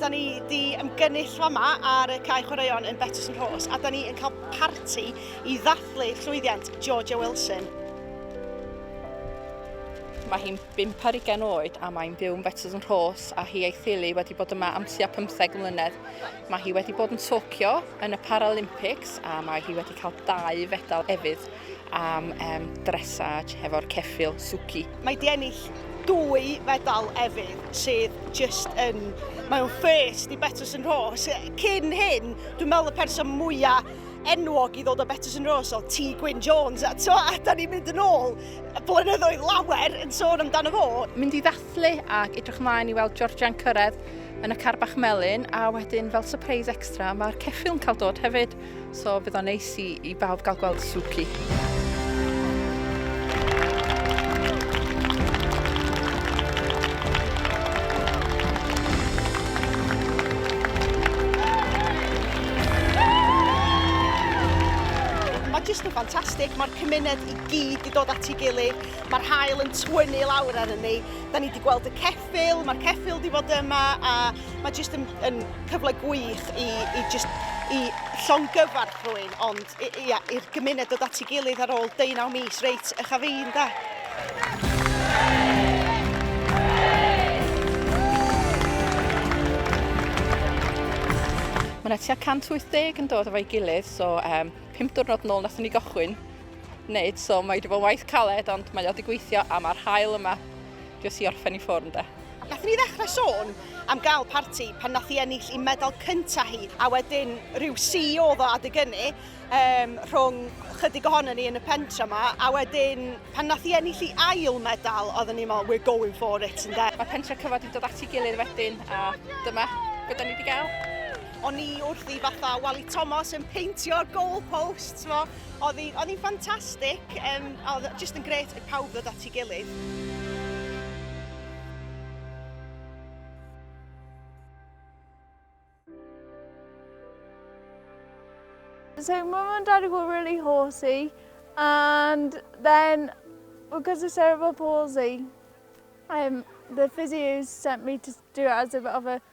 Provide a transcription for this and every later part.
Da ni wedi ymgynnull fama ar y cae chwaraeon yn Betws yn Rhos a da ni yn cael parti i ddathlu llwyddiant Georgia Wilson. Mae hi'n bimp ar ugain oed a mae'n byw yn Betws yn Rhos a hi a'i theulu wedi bod yma am tua 15 mlynedd. Mae hi wedi bod yn Tokyo yn y Paralympics a mae hi wedi cael dau fedal efydd am um, dressage hefo'r ceffil Suki. Mae di ennill dwy fedal efydd sydd just yn... Mae o'n first i Betws yn Rhos. Cyn hyn, dwi'n meddwl y person mwyaf enwog i ddod o Betws yn Rhos o T. Gwyn Jones. A, to, a da ni'n mynd yn ôl blynyddoedd lawer yn sôn amdano fo. Mynd i Lyfli ac edrych ymlaen i weld Georgia'n cyrraedd yn y car bach melyn a wedyn fel surprise extra mae'r ceffil'n cael dod hefyd so bydd o'n neis i, i bawb gael gweld Suki. Mae jyst yn ffantastig, mae'r cymuned i gyd i dod at ei gilydd. Mae'r haul yn twynu lawr ar ni. Da ni wedi gweld y ceffil, mae'r ceffil wedi bod yma a mae jyst yn, yn cyfle gwych i, i, just, i llongyfarch rwy'n, ond i'r gymuned dod at ei gilydd ar ôl 19 mis reit eich a fi, da. Mae yna tua 180 yn dod efo'i gilydd, so um, pum diwrnod nôl nath ni gychwyn wneud, so mae wedi bod yn waith caled, ond mae o wedi gweithio a mae'r hael yma jyst i orffen i ffwrn de. Nath ni ddechrau sôn am gael parti pan nath i ennill i medal cyntaf hi, a wedyn rhyw CEO oedd o adeg ynnu um, rhwng chydig ohono ni yn y pentra yma, a wedyn pan nath i ennill i ail medal, oedd ni fel, we're going for it, yn de. Mae pentra cyfod wedi dod ati gilydd wedyn, a dyma beth ni wedi gael. O'n i wrth i fatha Wally Thomas yn peintio'r goal posts, mo. Oedd hi'n oedd hi'n ffantastig, um, oedd just yn gret i pawb ddod at ei gilydd. So mum and daddy were really horsey and then because of cerebral palsy um, the physios sent me to do it as a bit of a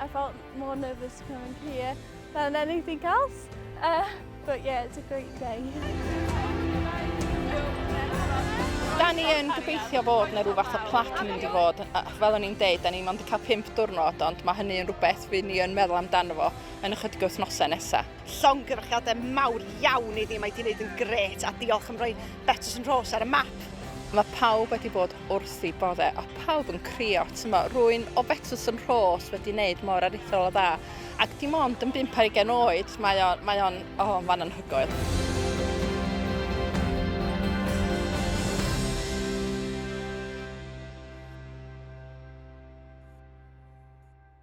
I felt more nervous coming here than anything else. Uh, but yeah, it's a great day. Da ni yn gobeithio bod yna rhywbeth o plac yn mynd i fod, fel o'n i'n deud, da ni mond yn cael pimp diwrnod, ond mae hynny yn rhywbeth fy ni yn meddwl amdano fo yn ychydig wythnosau nesaf. Llongyfarchiadau mawr iawn iddi, mae di wneud yn gret a diolch am roi Betws yn Rhos ar y map. Mae pawb wedi bod wrth i bodde a pawb yn crio, tymo, rwy'n o Betws yn Rhos wedi wneud mor aruthrol o dda, ac dim ond yn bump ar ugain oed, mae o'n, mae o'n, o, oh, fan anhygoel.